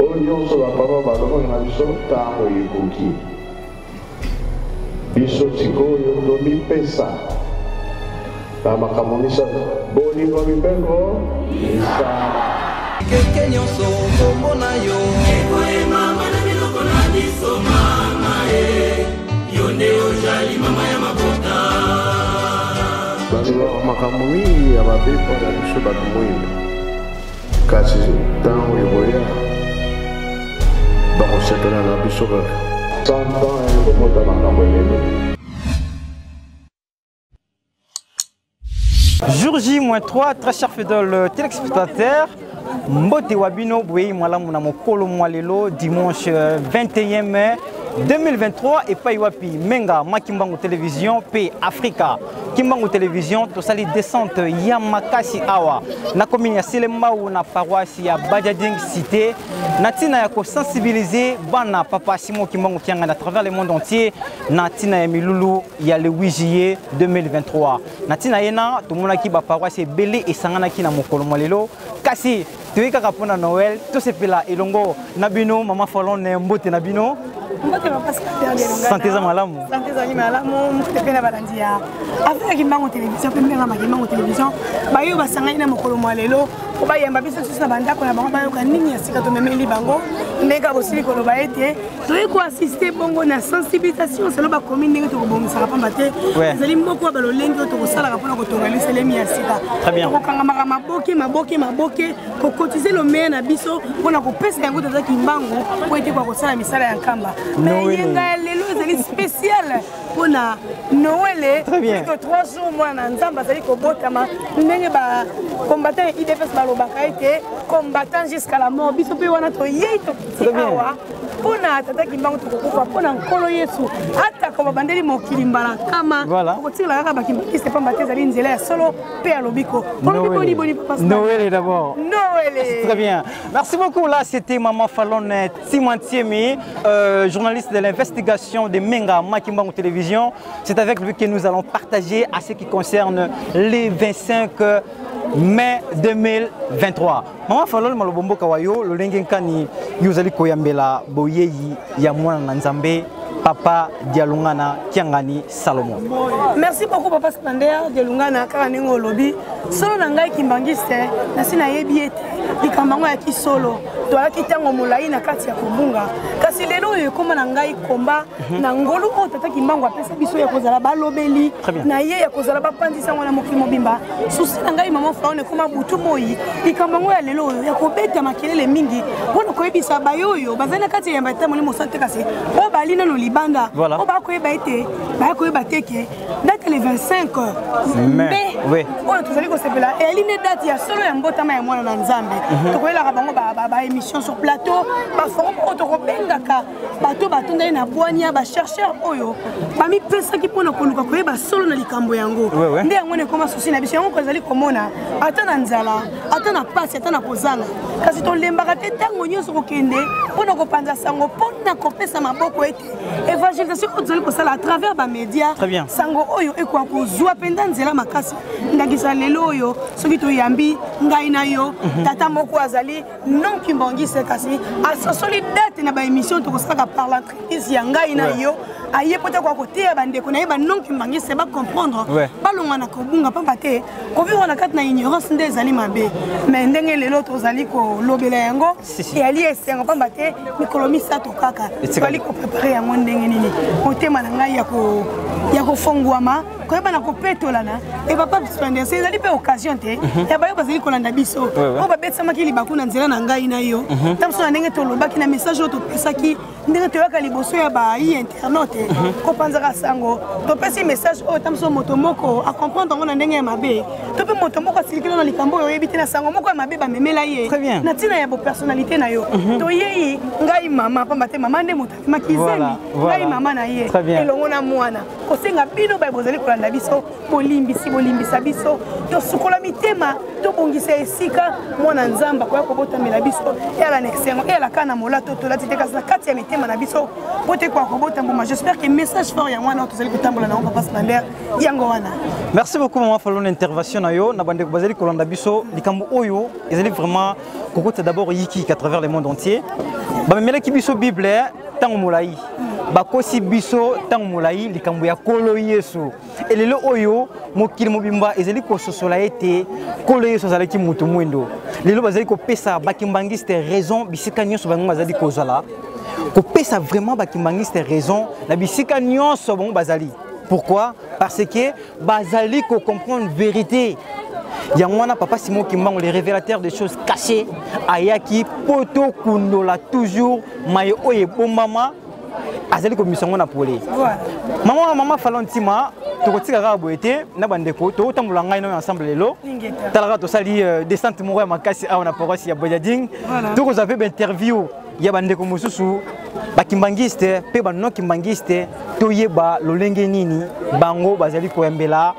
oyo nyonso bapapa balobaka na biso ntango ekoki biso sikoyo tomipesa na makambo misato bolingo mibeko misala keke nyonso kombo na yo ekoyemama na biloko na biso mama e yo nde ojali mama ya mabota bazalaka makambo mingi ya babepo na biso bato moyina kasi ntango ekoya bakosepela na biso kaka santan ekokota makambo elele Jour J-3, très cher fidèle euh, téléspectateur, Mbote Wabino Bouei Mwalamu na mokolo mwa lelo dimanche 21 euh, mai 2023 epai wapi Menga Makimbangu Television pe Afrika Kimbangu Television tosali descente ya makasi awa na commune ya Selembao na paroisse ya Bajading cité na tina ya ko sensibiliser bana papa Simon Kimbangu Kianga à travers le monde entier na tina ya milulu ya le 8 juillet 2023 na tina yena tomonaki ba paroisse ebele esanganaki na mokolo mwa lelo kasi toyei kaka mpo na noel tosepela elongo na bino mama falone mbote na bino sante eza malamu sante ezali malamu mokute mpe na balandi ya afrika kimbango télévision mpe mbengama kimbango télévision bayo basangani na mokolo mwa lelo mpo bayamba biso lisusu na bandako na bango bayoka nini ya sika tomemeli bango ndenge bosili koloba ete toyei koassiste bongo na sensibilisation selo bakomi ndenge tokobongisaka mpamba te ezali moko ya balolenge oyo tokosalaka mpona kotonga liselemi ya sika tokokangamaka maboke maboke maboke kokotize lomeya na biso mpona kopesa yango toza kimbangu mpo ete kwa kosala misala ya nkamba na eyenga ya lelo ezali spéciale mpona noele plutôt trois jours mwana nzambe azali kobotama ndenge bacombattant ya idps balobaka ete combattant jusqu'à la mort biso mpe wana toyei tokiti awa mpo na tata kimbangu tokokufa mpo na nkolo yesu atako babandeli mokili mbala nkama okotikala kaka bakimbangiste mpamba te ezali nzela ya solo mpe ya lobiko noele d'abord noele très bien merci beaucoup là c'était maman falone euh, timantiemi euh, journaliste de l'investigation de menga makimbangu télévision c'est avec lui que nous allons partager à ce qui concerne les 25 mai 2023 Mama Falol malobo mboka wa yo lolenge nkani yo ozali koyambela boyeyi ya mwana na Nzambe papa dialungana kiangani salomo merci beaucoup papa spander dialungana kaka ndenge olobi solo na ngai kimbangiste nasi nayebi ete likambo yango ya kisolo toyaki ntango molai na kati ya kobunga kasi lelo oyo ekoma na ngai komba Mhm. na ngolu oyo tata kimbangu apesa biso ya kozala balobeli na ye ya kozala bapanzi sango na mokili mobimba susi na ngai mama faon ekoma butu moi likambo yango ya lelo oyo ya kobeta makelele mingi mpo na koyebisa baye oyo bazali na kati ya yamba etamboli mosala te kasi oyo bali nano libanda oyo bakoyeba ete baya koyeba te ke date le 25 mai oyo tozali kosepela eyali nde date ya solo ya mbotama ya mwana na nzambe mhm. tokoyelaka bango baémission sur plateau baforum oyo tokobengaka bato batondaki na bwania bachercheur oyo bamipesaki mpo na koluka koyeba solo na likambo yango nde yango na ekoma susi na biso yango kozali komona ata na nzala ata na mpasi ata na kozanga kasi tolembaka te ntango nyonso kokende mpo na kopanza sango mpo na kopesa maboko ete évangélisation oyo tozali kosala à travers bamédia sango oyo ekoka kozwa mpenza nzela makasi ndakisa lelo oyo soki toyambi ngai na yo mhm. tata moko azali non kimbangiste kasi asosoli date na baémission tokosalaka par l'entreprise ya ngai na yo aye mpo te koya koteya bandeko na ye banon kimbangiste bacomprendre balonga na kobunga mpamba te kovivre na kati na ignorance nde ezali mabe mais ndenge lelo tozali kolobela yango eyali esengo mpamba te mikolo misato kaka tozali koprepare yango ndenge nini motema na ngai ya kofongwama koyeba na kopetolana e papa splendese ezali mpe occasion te mhm. ya bayo bazali kolanda biso oyo babetisamaki libaku na nzela na ngai na yo mhm. ta biso na ndenge tolobaki na message oyo topesaki ndenge toyaka liboso ya bayi internaute mhm. kopanzaka sango topesi message oyo ta biso moto moko acomprendre yango na ndenge ya mabe to mpe moto moko asilikilo na likambo oyo oyebi te na sango moko ya mabe bamemela ye na ntina ya bopersonnalité na yo toyei ngai mama pamba te mama nde moto makizemi ngai mama na ye elongo na mwana kosenga bino baye bozali kolanda biso bolimbisi bolimbisa biso tosukola mitema tobongisa esika mwana nzambe akoya kobotamela biso eyala na esengo eyala kaka na molato tolati te kasi na kati ya mitema na biso po te koya kobota mbuma j'espère que message fort ya mwana oyo tozali kotambola na yango papa slander yango wana merci beaucoup mama falona intervention na yo na bandeko bazali kolanda biso likambo oyo ezali vraiment kokotisa d'abord yiki à travers le monde entier bamemelaki biso bible eh, ntango molai bakosi biso ntango molai likambo ya nkolo yesu elelo oyo mokili mobimba ezali kososola ete nkolo yesu azalaki moto mwindo lelo bazali kopesa bakimbangiste raison bisika nyonso bango bazali kozala kopesa vraiment bakimbangiste raison na bisika nyonso bango bazali pourquoi parce que bazali ko comprendre verite yango wana papa simon kimbangu le révélateur des choses cachées ayaki mpo tokundola toujours maye oyo ebombama azali komisa yango na pole mama wa mama falo ntima tokotika kaka boye te na bandeko tokotambola ngai nayo ensemble lelo talaka tosali euh, descente moko ya makasi awa na paroisse ya bojading tokozwa mpe bainterview ya bandeko mosusu bakimbangiste mpe banon kimbangiste toyeba lolenge nini bango bazali koyambela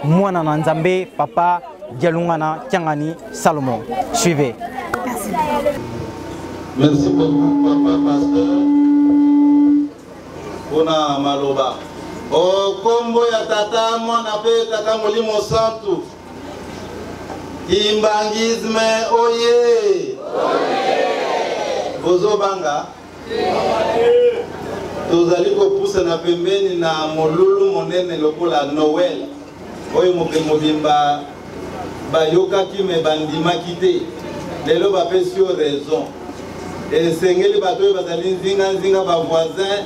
mwana na nzambe papa dialungana kiangani salomon suivez Merci. Merci beaucoup, papa pasteur. Pona maloba. O oh, kombo ya tata mwana pe tata molimo santu. Kimbanguisme oye! Bozobanga? Tozali kopusana pembeni na molulu monene lokola Noël oyo mokili mobimba bayokaki me bandimaki te lelo bapesi yo raison esengeli bato oyo bazali nzinganzinga bavoisin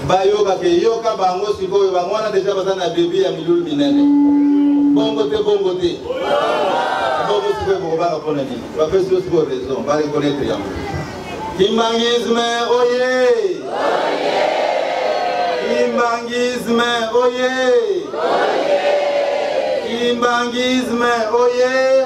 bayoka ke yoka bango sikoyo bango wana deja baza na bebi ya milulu minene bongo te bongo te bongo sikoyo bokobanga mpona nini bapesi yo sikoyo raison barekonetre yango kimbangisme oye kimbangisme oye kimbangisme oye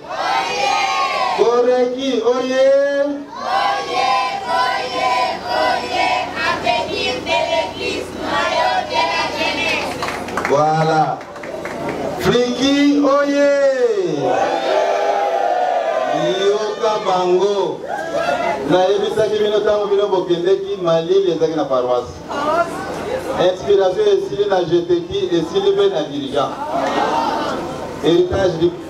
Goreki oye! Oye, oye, oye, avenir de l'église maillot de la jeunesse. Voilà. Friki oye! Yoka bango. nayebisaki bino ntango bino bokendeki malili ezalaki na paroisse inspiration esili na jeteki esili mpe na dirigeant héritage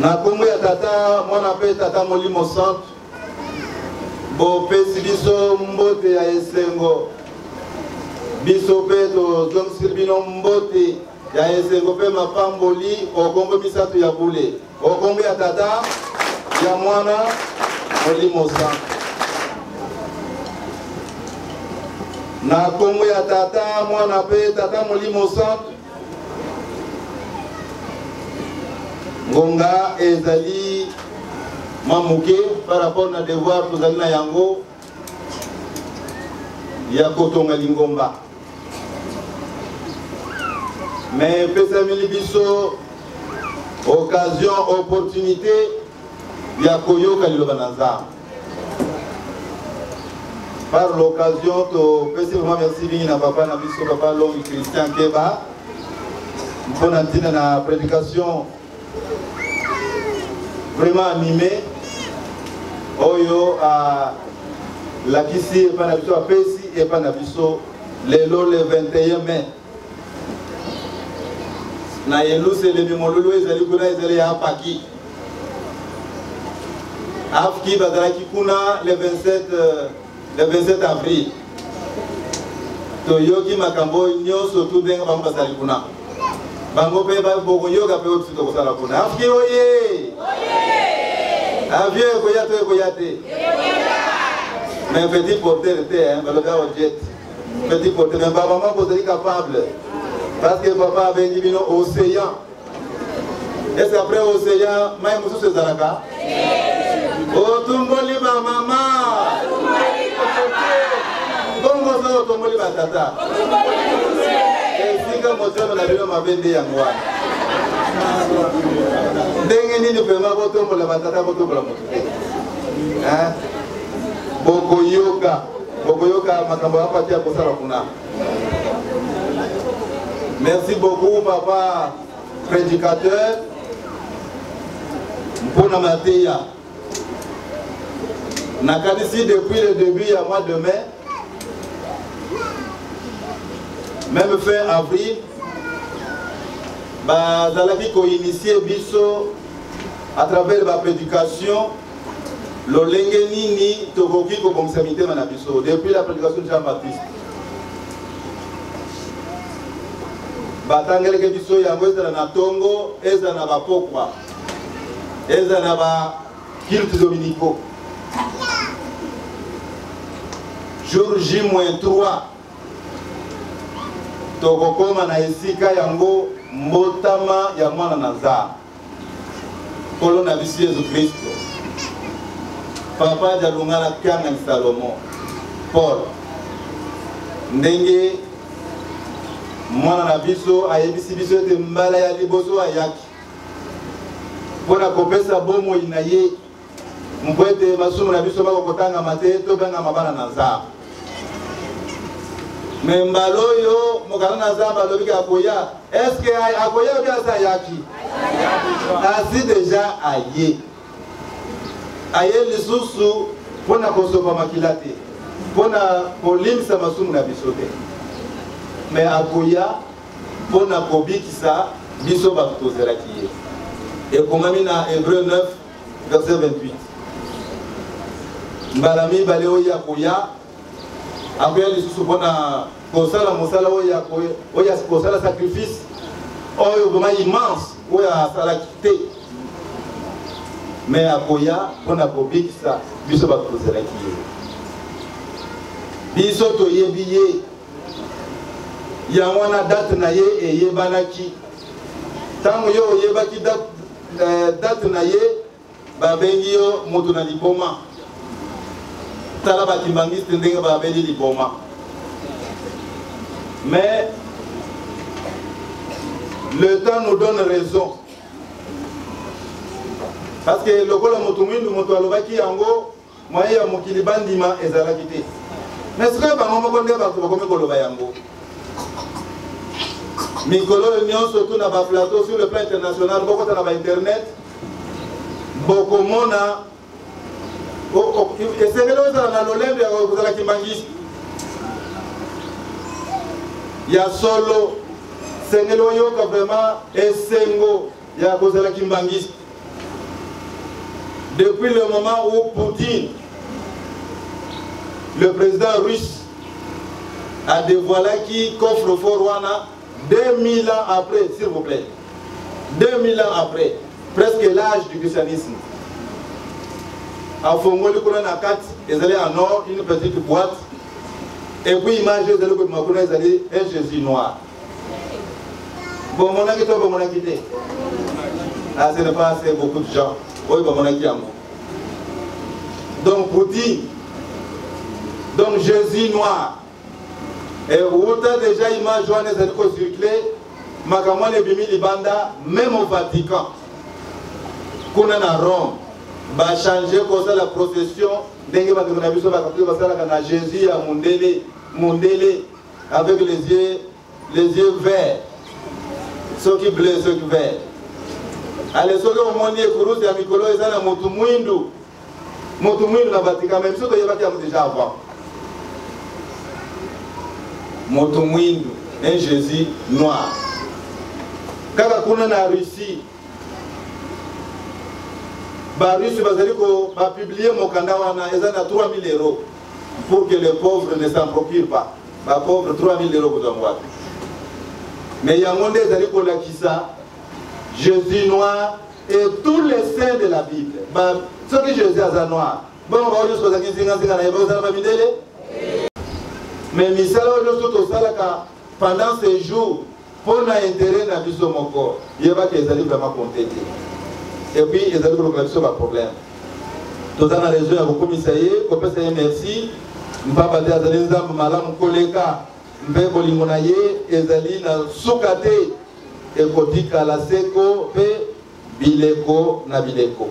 na kombo ya tata mwana mpe tata molimo santu bopesi biso mbote ya esengo biso mpe tozongisili bino mbote ya esengo mpe mapamboli okombo misato ya bule okombo ya tata ya mwana molimo santu na kombo ya tata mwana mpe tata molimo santu ngonga ezali mwa moke par rapport na devoir tozali na yango ya kotonga lingomba me epesameli biso occasion opportunité ya koyoka liloba na nzambe Par l'occasion, topesi vraiment merci mingi na papa na biso papa Longi Christian Keba mpo na ntina na prédication vraiment animé oyo alakisi epai na biso apesi epai na biso lelo le 21 mai na yeluselemi molulu ezali kuna ezali ya apaki afki bazalaki kuna le 27, euh, le 27 avril toyoki makambo oyo nyonso tu ndenge bango bazali kuna bango mpe bokoyoka mpe oyo biso tokosala kuna afki oye avio ekoya to ekoya te mais petit porter te balobi awa jet petit pote mais ba maman bozali capable parce que papa abengi bino océan est ce que après océan mai mosusu ezalaka otumboli ba mama bongo soki otumboli ba tata esika motema na bino mabe nde yango wana ndenge nini vraimen botombola batata botombola moto te bokoyoka bokoyoka makambo ya pati ya kosala kuna merci beaucoup papa prédicateur mpo na mateya nakanisi depuis le début ya mois de mai même fin avril bazalaki koinitie biso à travers baprédication lolenge nini tokoki kobongisa mitema na biso depuis la prédication de jean baptiste batangeleke biso yango ezala na ntongo ezala na bapokwa ezala na bakilte dominiko jour j moins 3 tokokoma na esika yango mbotama ya mwana na nzambe nkolo na biso yesu kristo papa jalunga na piangani salomo paul ndenge mwana na biso ayebisi biso ete mbala ya liboso ayaki mpo na kopesa bomoi na ye mpo ete masumu na biso bako kotangama te tobengama bana na nzambe me mbala oyo mokano na nzambe alobiki akoya eske akoya obi aza ayaki asi deja aye aye lisusu mpo na kosopa makila te mpo na kolimisa masumu na biso te me akoya mpo na kobikisa biso bato tozelaki ye ekomami na hebreu 9 verset 28 mbala mibale oyo ya koya akoya lisusu mpo na kosala mosala oyo ya kosala sacrifice oyo vrema immense oyo asalaki te me akoya mpo na kobikisa biso bato tozalaki ye biso toyebi ye yango wana date na ye eyebanaki ntango yo oyebaki date date na ye babengi yo moto na liboma tala bakimbangiste ndenge babeli liboma mais le temps nous donne raison parce que lokola moto mwindu moto alobaki yango Moyen ya mokili bandima ezalaki te. Mais sikoyo bango moko nde bato bakomi koloba yango. Mikolo oyo nyonso tout na ba plateau sur le plan international bokota na ba internet bokomona esengeli ozala na lolembe ya kozala kimbangishi ya solo sengeli oyoka vraiment esengo ya kozala kimbangishi Depuis le moment où Poutine, le président russe, a dévoilé qui coffre fort Rwanda 2000 ans après, s'il vous plaît. 2000 ans après, presque l'âge du christianisme. afongoli kuna na kati ezali en or une petite boîte et puis image ezali kobima kuna ezali un jésus noir bomonaki to bomonaki te ah, ce n'est pas assez beaucoup de gens oyo bamonaki yango donc poutine donc jésus noir ewuta déjà image wana ezali kocircule makambo wana ebimi libanda meme au vatican kuna na rome bachange kosala procession ndenge bandeko na biso bakatoki basalaka na jésus ya mondele mondele avec les yeux les yeux verts soki bleu soki vert ale soki omoni ekurusi ya mikolo eza na motu mwindu motu mwindu na vatican me biso toyebaki yango déjà avant motu mwindu un jésus noir kaka kuna na russie barusse bazali bapiblie mokanda wana eza na 3000 euro pour que les pauvres ne s'en procurent pas ba pauvres 3000 euros kozwa yango wapi mais yango nde ezali kolakisa jésus noir et tous les saints de la bible ba soki jésus aza noir bongo bao nyonso bazalaki nzinganzinga na ye bakozala bamindele mais misala oyo nyonso tosalaka pendant ces jours Mpo na interet na biso moko, yeba que ezali vraiment compte te. Et puis ezali kolokela biso ba problème. Toza na raison ya kokumisa ye, kopesa ye merci. Mpamba te azali nzambe malamu koleka mpe bolingo na ye ezali na suka te ekotikala seko mpe bileko na bileko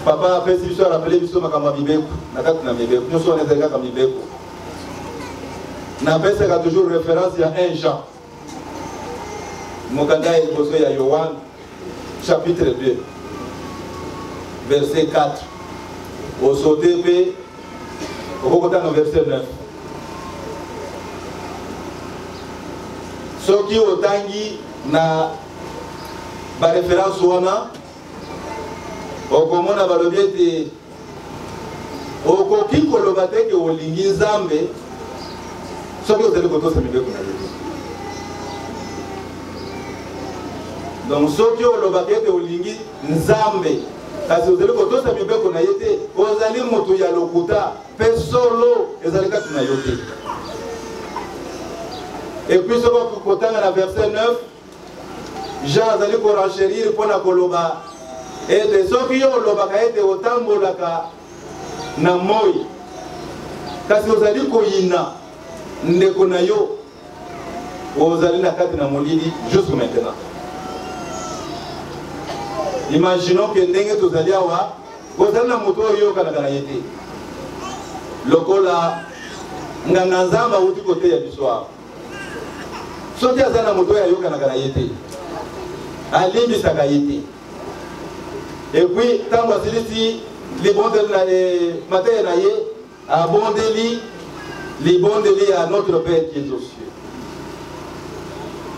papa apesi biso arapele biso makambo ya mibeko na kati na mibeko nyonso wana ezali kaka mibeko napesaka toujours référence ya 1 jean mokanda ya liboso ya yohane chapitre 2 verset 4 osote mpe okokotana verset 9 soki otangi na ba référence wana okomona balobi ete okoki koloba te ke olingi nzambe soki ozali kotosa mibeko na ye donc soki olobaka ete olingi nzambe kasi ozali kotosa mibeko na ye te ozali moto ya lokuta mpe solo ezali kati na yo te epuis soko kotanga na verset 9 jean azali korencherir mpo na koloba ete soki yo olobaka ete otambolaka na moi kasi ozali koyina ndeko na yo ozali na kati na molili jusque maintenant imaginons ke ndenge tozali awa ozali na moto oyo oyokanaka na ye te lokola nganga nzambe awuti koteya biso awa soki aza na moto oyo ayokanaka na ye te alimbisaka ye te epuis ntango asilisi libondeli na eh, mateya na ye Abondeli libondeli ya Notre Père qui est aux cieux.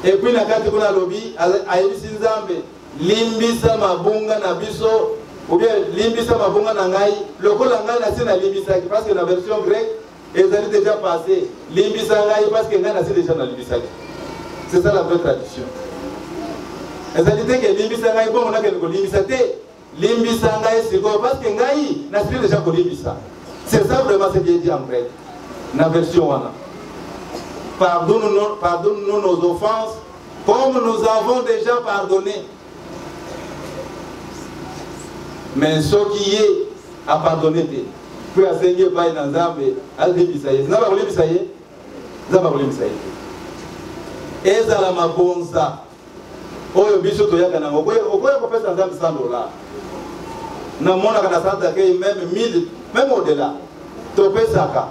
Et puis na kati kuna alobi ayebisi Nzambe limbisa mabunga na biso ou bien limbisa mabunga na ngai lokola ngai nasi nalimbisaki parce que na version grecque ezali déjà passé limbisa ngai parce que ngai nasi déjà nalimbisaki c'est ça la vraie tradition ezali te ke limbisa ngai bongo nakende kolimbisa te Limbisa ngai sikoyo parce que ngai na sili deja kolimbisa. C'est ça vraiment ce qui est dit en grec. Na version wana. Pardonne-nous pardonne nos offenses comme nous avons déjà pardonné. Mais ce qui est à pardonner, puis à Seigneur, pas dans Zambé, à Libisaïe. N'a pas Libisaïe. N'a pas Libisaïe. Ezala mabonza. oyo biso toyaka nango okoya kopesa nzambe 100 dollars namonaka na centre d'accueil meme 1000 meme au-delà topesaka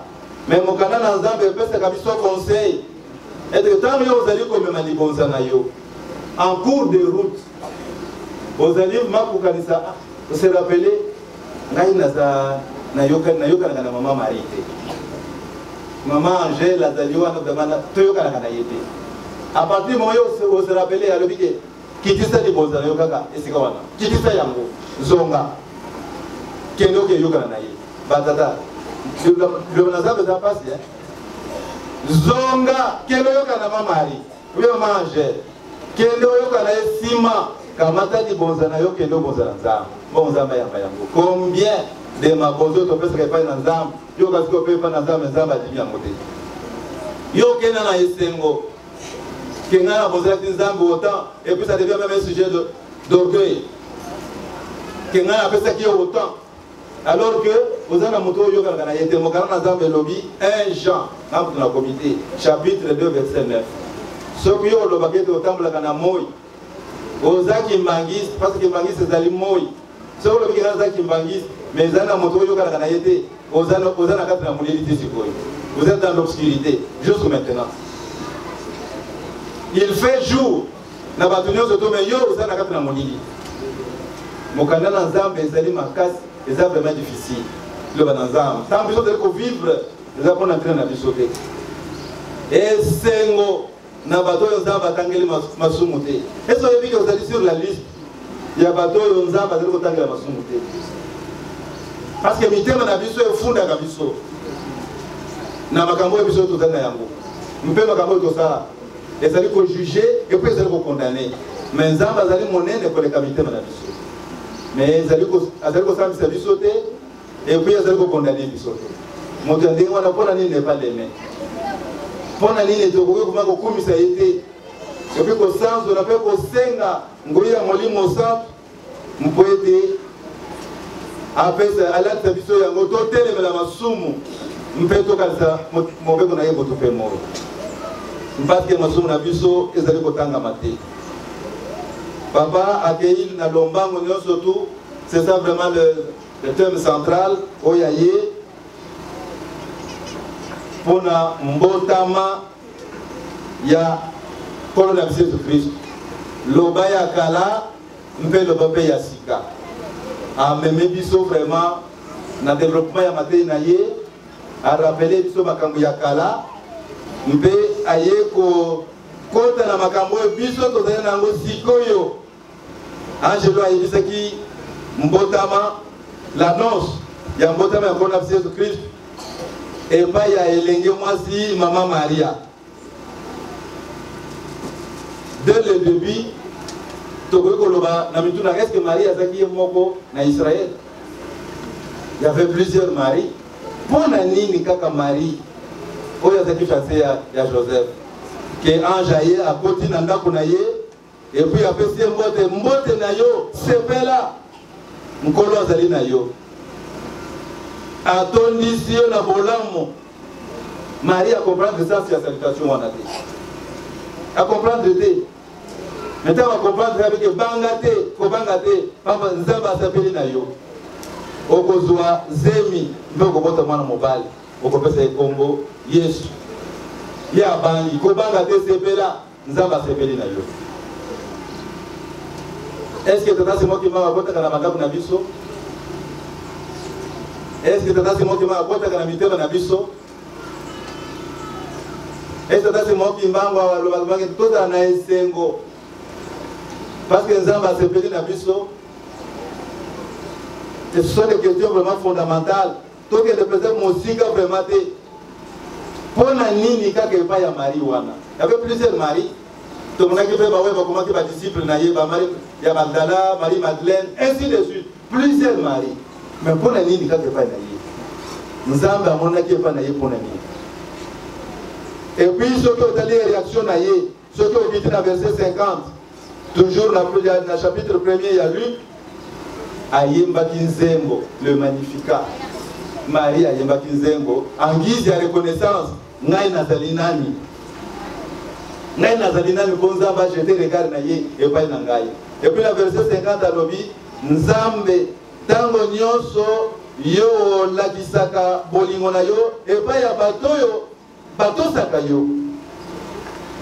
me mokanda na nzambe epesaka biso conseil ete ntango yo ozali komema libonza na yo en cours de route ozali makokanisa ah, se rappeler ngai naza nayoka nayokanaka na mama marie te mama angele azali wana bamana toyokanaka na ye te a partir moma yo ose rappele alobi ke kitisa libonza na yo kaka esika wana kitisa yango zonga kende okeyokana na ye batata liloba na zambe eza mpasi eh? zonga kende oyokana na mamari Vieux mange, kende oyoka na ye sima, kamata libonza na yo kende obonza na Nzambe. Bon Nzambe ayamba yango. Combien de mabozo oyo topesaka epai na Nzambe, yo kasi kope epai na Nzambe, Nzambe adimi yango te. Yo kenda na esengo, kenga na bozalaki Nzambe autant, et puis ça devient même un sujet d'orgueil. Kenga na apesaki yo autant, alors que oza na moto oyo oyokanaka na ye te mokano na nzambe elobi 1 jean na moto na komite chapitre 2 verset 9 soki yo olobaka ete otambolaka na moi oza kimbangiste parce kimbangiste ezali moi soki olobi kena oza kimbangiste mais ezali na moto oyokanaka na ye te oza na kati na molili te sikoyo vous êtes dans l'obscurité jusque maintenant il fait jour na bato nyonso to me yo oza na kati na molili mokanda na nzambe ezali makasi eza vraiment difficile liloba na nzambe ntango biso tozali kovivre eza mpona ntina na biso te esengo na bato oyo nzambe atangeli masumu te esi oyebi ke ozali sur la liste ya bato oyo nzambe azali kotangela masumu te parce que mitema na biso efundaka biso na makambo oyo biso tozali na yango mpe makambo oyo tosala ezali ko juge et puis ezali ko condamner mais nzambe azali monene koleka mitema na biso mais ezali azali kosambisa biso te et puis azali ko condamner biso te moto ya ndenge wana mpona nini epa leme mpona nini tokoki kuma kokumisa ye te epi kosanzola mpe kosenga ngoi ya molimo santu mpo ete apesa alakisa biso yango totelemela masumu mpe tokanisa mobeko na ye moto mpe moro mpasi ya masumu na biso ezali kotangama te papa akei na lombango nyonso tu c'est ça vraiment le, le thème central oyo aye mpo na mbotama ya nkolo na biso yesu kristo loba ya kala mpe loba mpe ya sika ameme biso vraiment na développement ya matei na ye arapele biso makambo ya kala mpe aye kokota na makambo oyo biso tozali na yango sikoyo angelo ayebisaki mbotama l'annonce ya mbotama ya nkolo na biso yesu kristu epai ya elenge mwasi mama maria de le début tokoki koloba na mituna est ce que marie azalaki ye moko na israel y avait plusieurs marie mpo na nini kaka marie oyo azalaki fiance ya, ya joseph ke ange aye akoti na ndako na ye epuis apesi ye mbote mbote na yo sepela nkolo azali na yo atondisi yo na bolamu marie acomprendre sens ya salutation wana te acomprendre te me ntango acomprendre abike banga te kobanga te pamba nzambe asapeli na yo okozwa zemi mpe okobota mwana mobali okopesa ye nkombo yesu ye abangi kobanga te sepela Nzambe asepeli na yo. Est-ce que tata Simon Kimbangu akotaka na bandako na biso? Est-ce que tata Simon Kimbangu akotaka na mitema na biso? Est-ce que tata Simon Kimbangu alobaki tozala na esengo parce que Nzambe asepeli na biso? Ce sont des questions vraiment fondamentales. tokende mpenza mosika vraimen te mpo na nini kaka epai ya marie wana yave plusieurs marie tomonaki mpe baoyo bakomaki badisciple na ye bamari ya magdala marie madeleine ainsi de suite plusieurs marie mais mpo na nini kaka epai na ye nzambe amonaki epai na ye mpo na nini epuis soki otali reaction na ye soki okiti na verse 50 toujours na, na chapitre premier ya luke ayembaki nzembo le magnificat marie ayembaki nzembo en guise ya reconnaissance ngai nazali nani ngai nazali nani mpo nzambe ajete regard na ye epai na ngai epuis na verse 50 alobi nzambe ntango nyonso yo olakisaka bolingo na yo epai ya bato oyo batosaka yo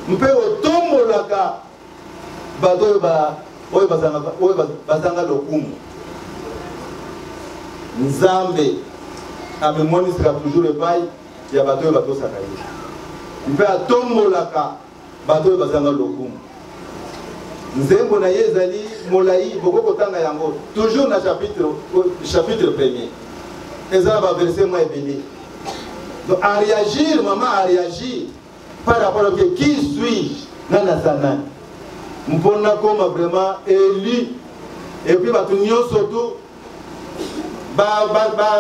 mpe otombolaka bato oyo oyo bazangaka oyo bazanga lokumu nzambe amimonisaka toujours epai ya bato oyo batosaka ye mpe atombolaka bato oyo bazanga lokumu nzembo na ye ezali molai boko kotanga yango toujours na chapitre, chapitre premier eza na baverse mwa ebele donc a réagir mama a réagir par rapport oke qui suis-je nani aza nani mpo nakoma vraiment élu epuis bato nyonso tu bakombo ba,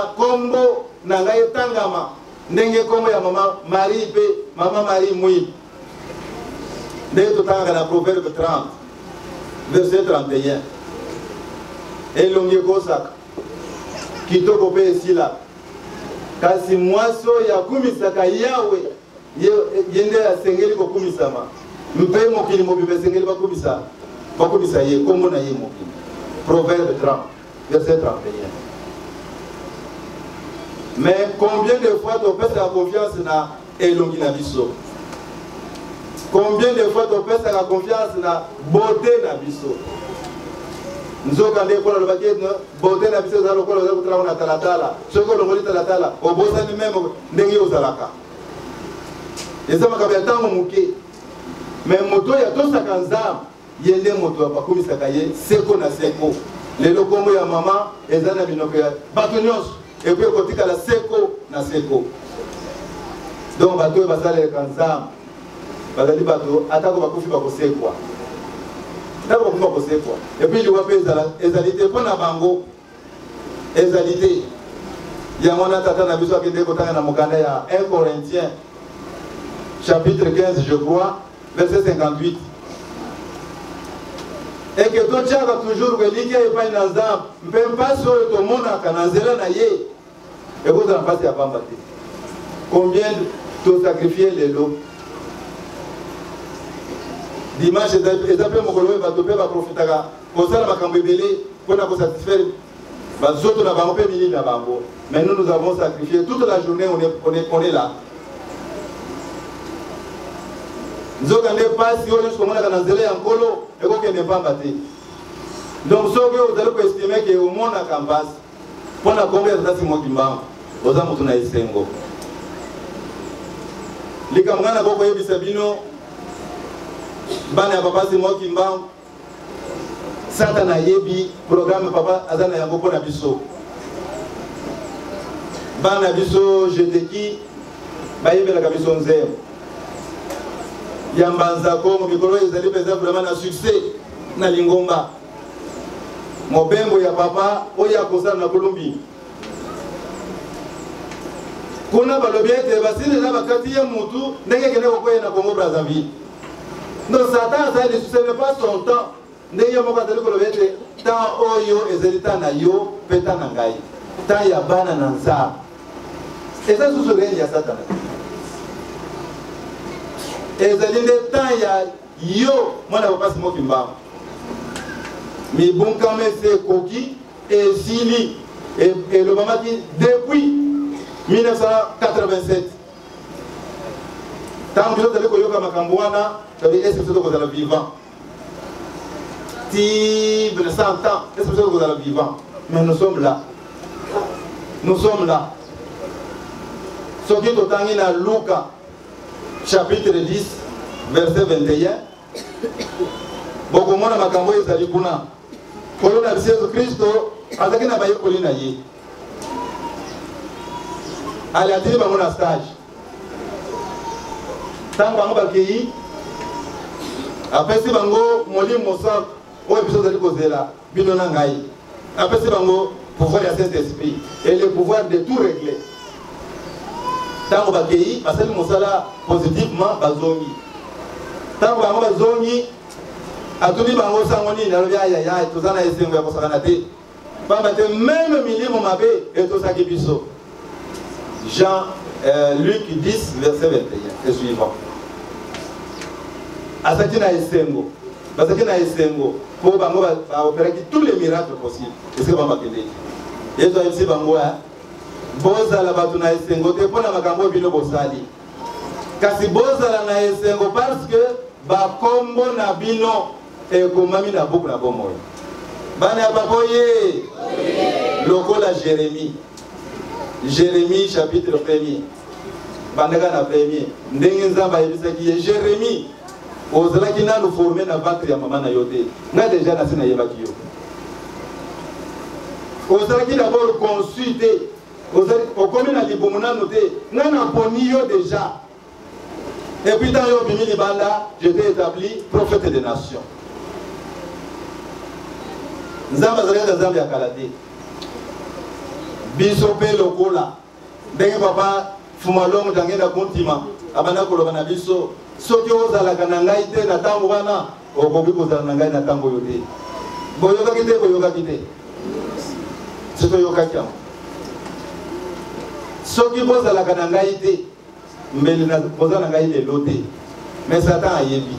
ba, na ngai etangama ndenge nkombo ya mama marie mpe mama marie mwi ndenge totangaka na proverbe 30 verset 31 elongi ekosaka kitoko mpe esila kasi mwasi oyo akumisaka yawe ye nde asengeli kokumisama mpe mokili mobimba esengeli bakumisa bakumisa ye nkombo na ye mokili proverbe 30 de s'être empeigné mais combien de fois topesaka confiance na elongi na biso combien de fois topesaka confiance na beauté na biso nzoka nde ekola alobaki beauté na biso eza lokola oza kotalako na talatala soki olongoli talatala obosani meme ndenge ozalaka eza makambo ya ntango moke me moto oyo atosaka nzambe ye nde moto bakumisaka ye seko na seko lelo nkombo ya mama eza na minoko ya bato nyonso epo ekotikala seko na seko donc bato oyo basalelaka nzambe bazali bato atako bakufi bakosekwa atako bakufi bakosekwa epuis liwa mpe ezali te mpo na bango ezali te yango wana tata na biso akendeki kotanga na mokanda ya 1 corinthien chapitre 15 je crois verset 58 eke totyaka toujours elikya epai na nzambe mpe mpasi oyo tomonaka na nzela na ye ekozala mpasi ya pamba te combien tosacrifie lelo dimanche eza mpe mokolo oyo bato mpe baprofitaka kosala makambo ebele mpo na kosatisfaire bazoto na bango mpe milili na bango mais nous nous avons sacrifié toute la journée on est, on est, on est là nzoka nde mpasi oyo nyonso komonaka na nzela ya nkolo ekokende mpamba te donc soki ozali koestime ke omonaka mpasi mpo na kombe ya tata simo kimbangu oza moto na esengo likambo ngai nakoki koyebisa bino bana ya papa simo kimbangu satana ayebi programe papa aza na yango mpo na biso bana biso jeteki bayembelaka biso nzembo ya mbanza kongo mikolo oyo ezali mpenza vraimen na succès na lingomba mobembo ya papa oyo akosala na kolombi kuna balobi ete basili na bakati ye mutu ndenge ekende kokweye na congo brazzaville no satan azali lisusu ce n'est pas son temps ndenge moko azali koloba ete temps oyo ezali temps na yo mpe temps na ngai temps ya bana na nzambe eza susu reni ya satana ezali nde temps ya Yo, mwana ya papa Simon Kimbangu. Mibunkama ese ekoki esili elobamaki depuis 1987 ntango biso tozali koyoka makambo wana todi ese biso tokozala vivant ti 100 ans ese biso tokozala vivant mais nous sommes là nous sommes là soki totangi na luka chapitre 10 verset 21 bokomona makambo oyo ezali kuna nkolo na biso yesu kristo azalaki na bayekoli na ye alatili bango na stage ntango bango bakei apesi bango molimo mosantu oyo biso ozali kozela bino na ngai apesi bango pouvoir ya saint esprit et le pouvoir de tout régler ntango bakei basali mosala positivement bazongi ntango bango bazongi atuni bango sango nini alobi ayaya toza na esengo ya kosakana te mpamba te meme milimo mabe etosaki biso Jean, euh, Luc 10, verset 21 et suivant. Azaki na esengo, bazaki na esengo mpo bango baoperaki tous les miracles possibles esika bango bakendeki. Yesu ayebisi bango ya bozala bato na esengo te mpo na makambo oyo bino bosali, kasi bozala na esengo parce que bakombo na bino ekomami na buku na bomoi bana ya papa oye lokola jérémie jérémie chapitre premier bandaka na premier ndenge nzambe ayebisaki ye jérémie ozalaki nanu forme na ventre ya mama na yo te nga deja nasi nayebaki yo ozalaki dabord consu te okomi na libumu nanu te nga naponi yo deja Et puis dans yo bimi libanda, je t'ai établi prophète des nations. Nzambe azali kaka Nzambe ya kala te. Biso mpe lokola ndenge papa Fumalongo tange na kontima abanda koloba na biso soki ozalaka na ngai te na ntango wana okoki kozala na ngai na ntango oyo te. Boyokaki te, boyokaki te. Soki oyokaki yango. Soki bozalaka na ngai te mbele na poza na ngai lelo te mais satan ayebi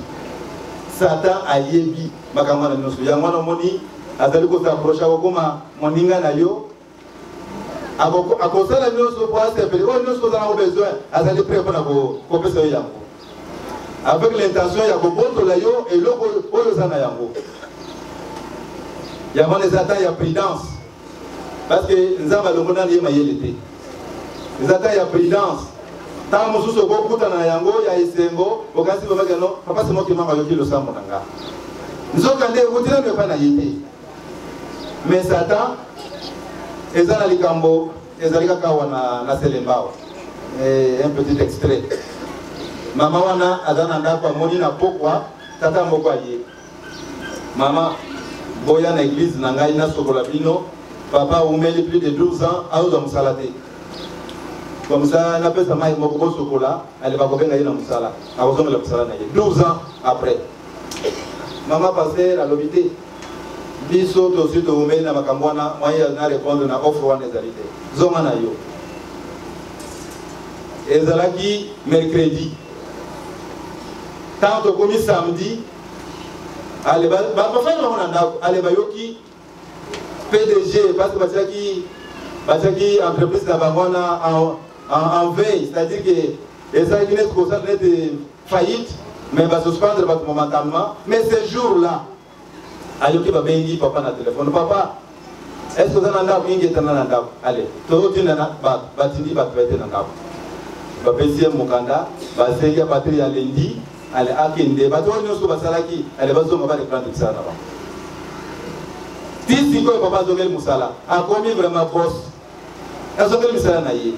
satan ayebi makambo wana nyonso yango wana omoni azali kosaproche akokoma moninga na yo akosala nyonso po asepele oyo nyonso ozala ngo besoin azali pre mpona kopesa yo yango avec l'intention ya kobotola yo eloko oyo oza na yango yango wana eza temps ya prudence parce que nzambe alongo nani ye mayele te eza ta ya prudence ntango mosusu okokutana na yango ya esengo okanisi babaki yano papa semoki mama ayoki losambo na nga nzoka nde ewuti nano epai na ye te mais satan eza na likambo ezali kaka awa na, na selembao eh, un petit extrait mama wana aza na ndako amoni na pokwa tata moko aye Mama, boya na eglise na ngai nasokola bino. Papa aumeli plus de 12 ans aozwa mosala te. Comme ça napesa mai moko bosokola aleba kobenga ye na mosala akozongela mosala na ye 12 ans après. Mama pasteur alobi te biso tosi toumeli na makambo wana moyen na répondre na offre wana ezali te zonga na yo ezalaki mercredi ntango tokomi samedi ale bafani bango na ndako ale bayoki pdg parce que batiaki batiaki entreprise na bango wana en veille c'est à dire que ezalaki neti kosala neti faillite mais basuspendre bato momentalement mais ce jour là ayoki babengi papa na telefone papa est ce que oza na ndako ingetana na ndako ale tozotindana bato batindi bato baye te na ndako bapesi ye mokanda basengi ya patri ya lendi ale akende bato oyo nyonso basalaki ale bazonga bareprendre mosala na bango ti sikoyo papa azongeli mosala akomi vraiment bos azongeli misala na ye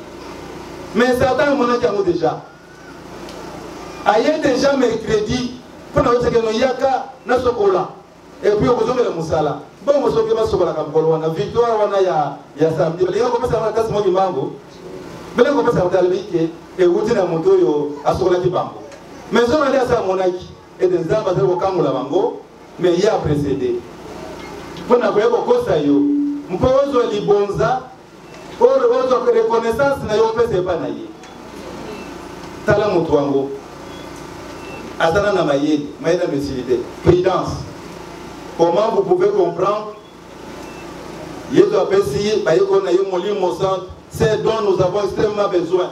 mais satan amonaki yango déjà aye déjà mercredi mpo na osekeno yaka nasokola et puis okozongela mosala bongo soki basokolaka mokolo wana victoire wana ya ya samedi balinga kopesa wana kasi moki mbango bele kopesa kotalibi ke ewuti na moto oyo asokolaki bango mais soki nde asa amonaki ete nzambe azali kokangola bango mais ye aprecede mpo na koya kokosa yo mpo ozwa libonza oyo ozwa mpe reconnaissance na yo opesa epai na ye tala moto yango azala na mayele mayele ya mesili te prudence comment vous pouvez comprendre yesu apesi bayekoli na ye molimo santo ce dont nous avons extrêmement besoin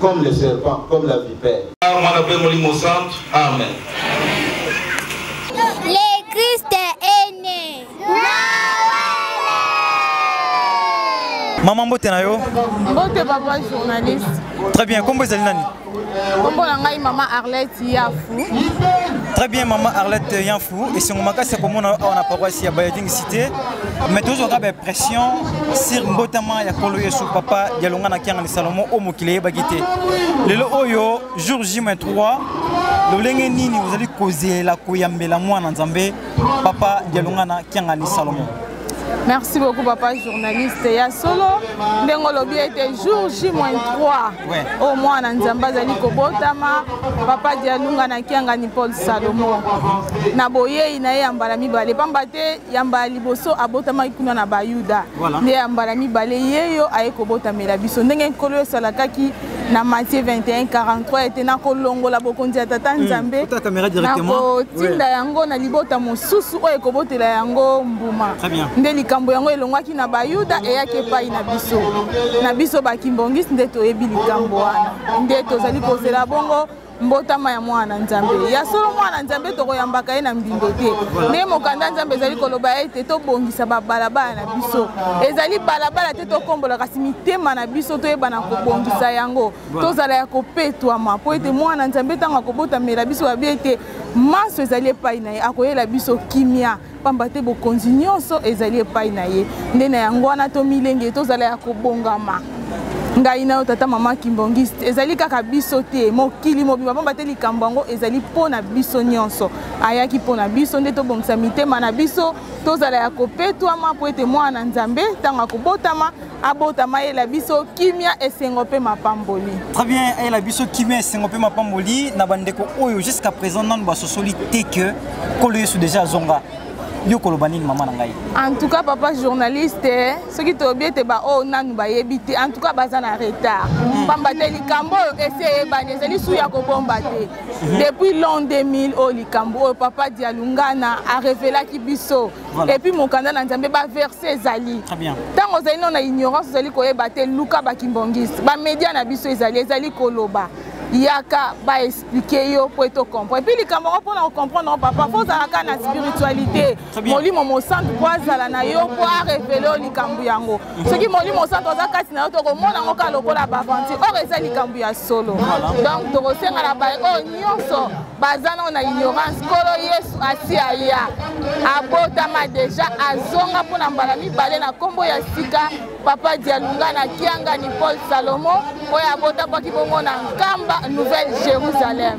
comme le serpent, comme la vipère. Mwana mpe Molimo Santu. Amen. Le Christ est né. Maman mbote na yo? Mbote papa journaliste. Très bien, kombo ezali nani? Kombo na ngai maman Arlette Yafu. Très bien maman Arlette Yafu. esengo makasi ya komona awa na paroisse ya bayading cité mais tozwaka baimpression sur mbotama ya kolo yesu papa ya longa na kiangani salomo oyo mokili eyebaki te lelo oyo jour j 3 lolenge nini ozali kozelela koyambela mwana nzambe papa ya longa na kiangani salomo Merci beaucoup papa journaliste ya solo ndenge olobi ete jour j-3 oyo mwana nzambe azali kobotama papa dialunga na kiangani paul salomon na boyei na ye ya mbala mibale mpamba te ya mbala liboso abotamaki kuna na bayuda nde ya mbala mibale ye yo aye kobotamela biso ndenge nkolo esalakaki na matie 21 43 ete nakolongola bokonzi ya tata hmm. nzambe nakotinda yango na libota mosusu oyo ekobotela yango mbuma nde likambo yango elongwaki na bayuda eyaki epai na biso na biso bakimbongisi nde toyebi likambo wana nde tozali kozela bongo mbotama ya mwana nzambe ya solo mwana nzambe tokoyambaka ye na mbindo te nde mokanda nzambe ezali koloba ete tobongisa babalabala na biso ezali balabala te tokombola kasi mitema na biso toyebana kobongisa yango tozala ya kopetwama mpo ete mwana nzambe ntango akobotamela biso babi ete manso ezali epai na ye akoyela biso kimia mpamba te bokonzi nyonso ezali epai na ye nde na yango wana tomilenge tozala ya kobongama ngai na yo tata mama kimbongiste ezali kaka biso te mokili mobima mpamba te likambo yango ezali mpo na biso nyonso ayaki mpo na biso nde tobongisa mitema na biso tozala ya kopetwama mpo ete mwana na nzambe ntango akobotama abotama ayela biso kimia esengo mpe mapamboli très bien ayela biso kimia esengo mpe mapamboli na bandeko oyo jusqu'à présent nanu basosoli te que nkolo yesu déjà azonga yo koloba nini mama na ngai en tout cas papa journaliste soki tolobi ete baoyo oh, nanu bayebi te en tout cas baza na retard hmm. pamba te likambo oyo esi eyebani ezali su ya kobomba te hmm. depuis long 2000 oyo likambo oyo papa dialungana arevelaki biso Voilà. epuis mokanda na nzambe baverse ezali ntango ozali no na ignorance ozali koyeba te luka bakimbongiste bamedia na biso ezali ezali koloba yaka baexplike yo mpo ete okomprendre epuis likambo yango mpona kocomprendre yango papa fo ozalaka na spiritualité molimo mosantu mpo azala na yo mpo arevele yo likambo yango soki molimo santo aza kati na yo tokomona yango kaka lokola baaventure or eza likambo ya solo donc tokosenga na baye oyo nyonso baza nao na ignorance nkolo yesu asi aya abotama deja azonga mpo na mbala mibale na nkombo ya sika papa dialunga na kiangani paul salomo oyo abotamaki bongo na nkamba nouvelle jérusalem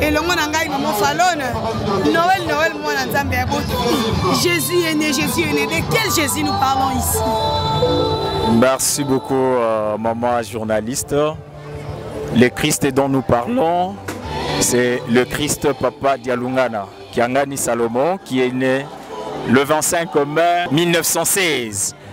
elongo na ngai mama falone noel noel mwana nzambe ya boto jésus est né jésus est né de quel jésus nous parlons ici merci beaucoup euh, maman journaliste le christ dont nous parlons c'est le christ papa dialungana kiangani salomon qui est né le 25 mai 1916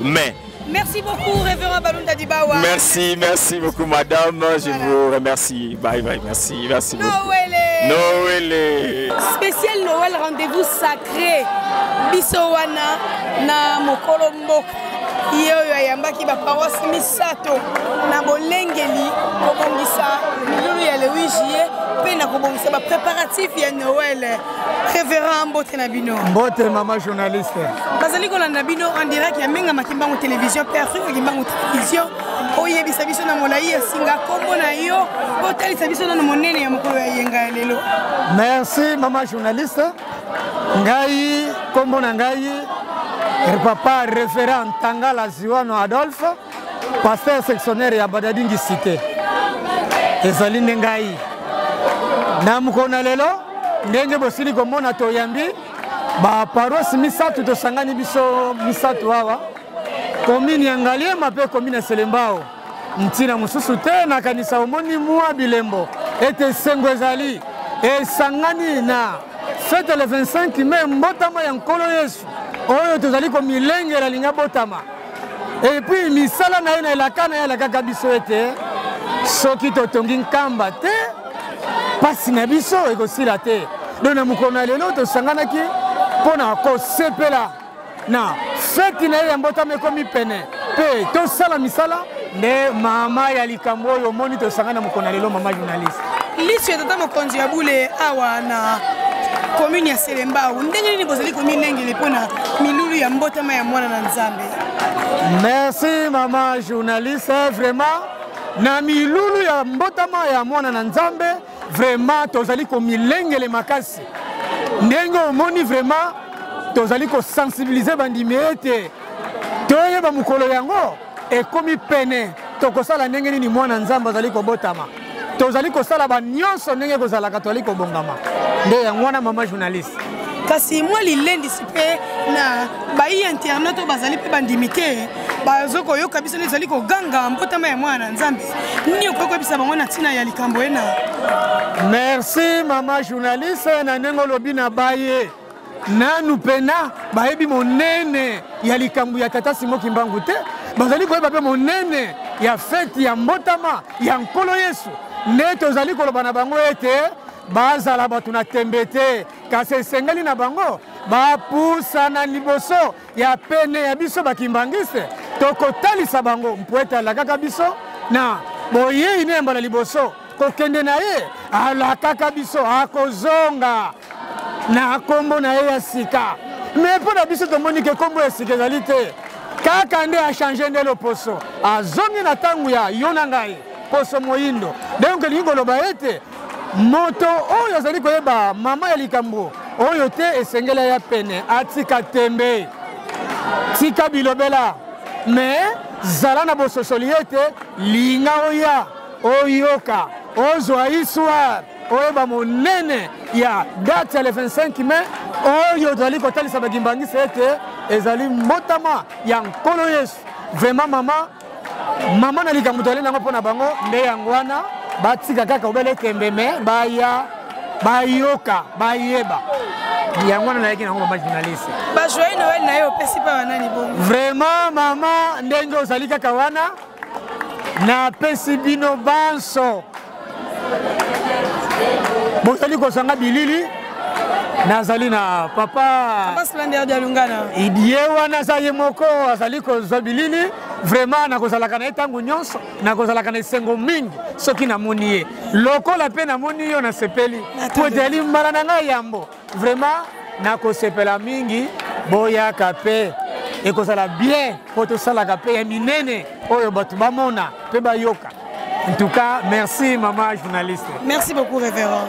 mais Merci beaucoup, révérend Balunda Dibawa. Merci, merci beaucoup, madame. Je voilà. vous remercie. Bye bye, merci, merci Noël. beaucoup. Noël. Noël. Spécial Noël, rendez-vous sacré. Bissowana, na mokolo mboka. ye oyo ayambaki baparoise misato na bolengeli kobongisa milulu ya le 8 juillet mpe na kobongisa bapréparatif ya noele Reverend mbote na bino. Mbote mama journaliste. Bazali kolanda bino en direct ya Menga Makimbangu télévision Père Afrique Makimbangu télévision. Oyebisa biso na molayi ya singa kombo na yo otalisa biso na monene ya mokolo ya yenga ya lelo. Merci mama journaliste. Ngai kombo na ngai papa referent Tangala Ziwano Adolphe. pasteur sectionnaire ya badadingi cité ezali nde ngai na mokolo na lelo ndenge bosili komona toyambi baparosi misato tosangani biso misato awa komini ya ngaliema mpe komini ya selembao ntina mosusu te nakanisa omoni mwa bilembo ete esengo ezali esangani na fete le 25 mai mbotama ya nkolo yesu oyo tozali komilengela linga botama epuis misala na ye na elaka na ye alakaka biso ete soki totongi nkamba te mpasi na biso ekosila te don na mokolo na lelo tosanganaki mpo na kosepela na feti na ye ya mbotama ekomi pene mpe tosala misala nde mama ya likambo oyo omoni tosanga na mokona lelo mama journaliste liso ya tata mokonzi ya bule awa na komune ya selembau ndenge nini bozali komilengele mpo na milulu ya mbotama ya mwana na nzambe merci mama journaliste vraiment na milulu ya mbotama ya mwana na nzambe vraiment tozali komilengele makasi ndenge omoni vraiment tozali kosensibilize bandimi ete toyeba mokolo yango ekomi pene tokosala ndenge nini mwana nzambe azali kobotama tozali kosala banyonso ndenge ekozalaka tozali kobongama nde yango wana mama journaliste kasi mwa lilendisi mpe na bayi internet oyo bazali mpe bandimi te bazo koyoka biso nde ezali koganga mbotama ya mwana na nzambe nini okoki koyebisa bango na ntina ya likambo ena merci mama journaliste na ndenge olobi na baye nanu mpena bayebi monene ya likambo ya tata simo kimbangu te bazali koyeba mpe monene ya feti ya mbotama ya nkolo yesu nde tozali koloba na bango ete bazala bato na tembe te kasi esengeli na bango bapusana liboso ya pene ya biso bakimbanguiste tokotalisa bango mpo ete alakaka biso na boyei na yamba na liboso kokende na ye alakaka biso akozonga na nkombo na ye ya sika me mpo na biso tomoni ke nkombo ya sika ezali te kaka nde achange nde loposo azongi na ntango ya yo na ngai poso moyindo donc elingi koloba ete moto oyo azali koyeba mama ya likambo oyo te esengeli ya pene atika tembe tika bilobela me zala na bososoli ete linga oya oyoka ozwa histoire oyeba monene ya date ya le 25 mai oyo tozali kotalisa bakimbangisa ete ezali mbotama ya nkolo yesu vraimen mama mama na likambo tozali nango mpo na bango nde yango wana batika kaka obele tembe me baya bayoka bayeba yango wana nayaki nango mama journaliste bajoyeux noel na ye opesi mpa banani bongo vraiment mama ndenge ozali kaka wana napesi bino banso bozali kozanga bilili nazali na papa ye wana aza ye moko azali kozwa bilili vraiment nakozalaka na ye ntango nyonso nakozalaka na esengo mingi soki namoni ye lokola mpe namoni yo nasepeli mpo ezali mbala na ngai yambo Vraiment nakosepela mingi boyaka pe ekozala bien mpo tosalaka mpe ya minene oyo bato bamona mpe bayoka en tout cas merci mama journaliste merci beaucoup révérend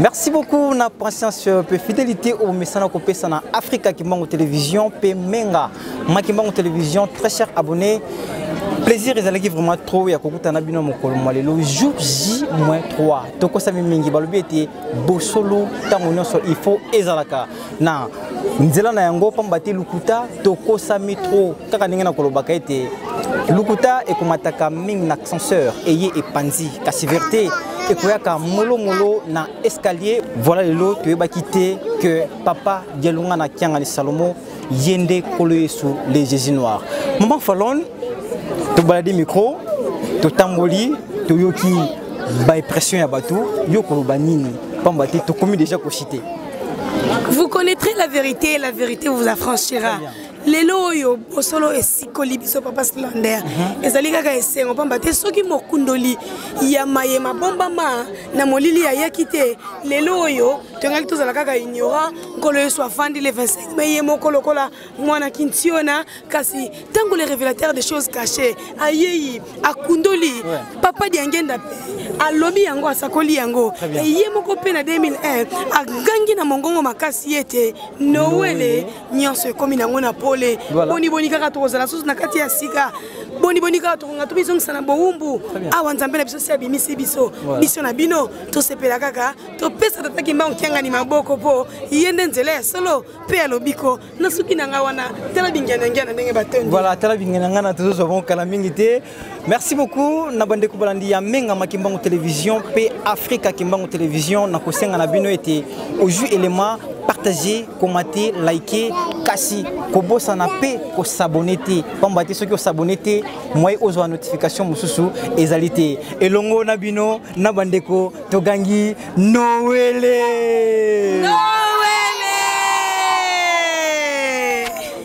merci beaucoup na patience euh, mpe fidélité oyo bomesana kopesa na africa kimbangu télévision mpe menga ma kimbangu télévision très cher abonné plaisir ezalaki vraiment trop ya kokutana bino mokolo mwa lelo jour j 3 tokosami mingi balobi ete bosolo ntango nyonso il faut ezalaka na nzela na yango mpamba te lokuta tokosami trop kaka ndenge nakolobaka ete lokuta ekomataka mingi na ascenseur eye epanzi kasi verite ekoyaka molomolo na escalier voilà lelo toyebaki te que papa dialunga na kiangani salomo ye nde nkolo yesu le jésus noir maman falone tobaladi micro totamboli toyoki baimpression ya bato yo koloba nini mpamba te tokomi déjà kosi te vous connaîtrez la vérité et la vérité vous affranchira lelo oyo bosolo esikoli biso papa slander mhm. ezali kaka esengo mpamba te soki mokundoli ya maye mabombama na molili ayaki te lelo oyo tongaki tozala kaka ignorant nkolo yesu afandi le 25 mai ye moko lokola mwana kintiona kasi ntango le révélateur des choses cachées ayei akundoli papa diangenda mpe alobi yango asakoli yango ye moko mpe na 2001 agangi na mongongo makasi ete nowele nyonso ekomi nango na pole boniboni kaka tokozala susu na kati ya sika boniboni kaka tokonga tomizongisa na bowumbu awa nzambe na biso si abimisi biso biso na bino tosepela kaka topesa tata kimbangu kiangani maboko mpo ye nde nzela ya solo mpe ya lobiko nasuki na ngai wana tala bingianangiana ndenge batondi voilà tala bingianangana tozozwa bongo kala mingi te Merci beaucoup na bande kubalandi ya Menga Makimbangu Télévision pe Africa Kimbangu Télévision na kosenga na bino ete oju élément partager, commenter, liker, kasi kobosana pe ko s'abonner te pamba te soki osabonne te moye ozwa notification mosusu ezali te elongo na bino na bandeko togangi noele no!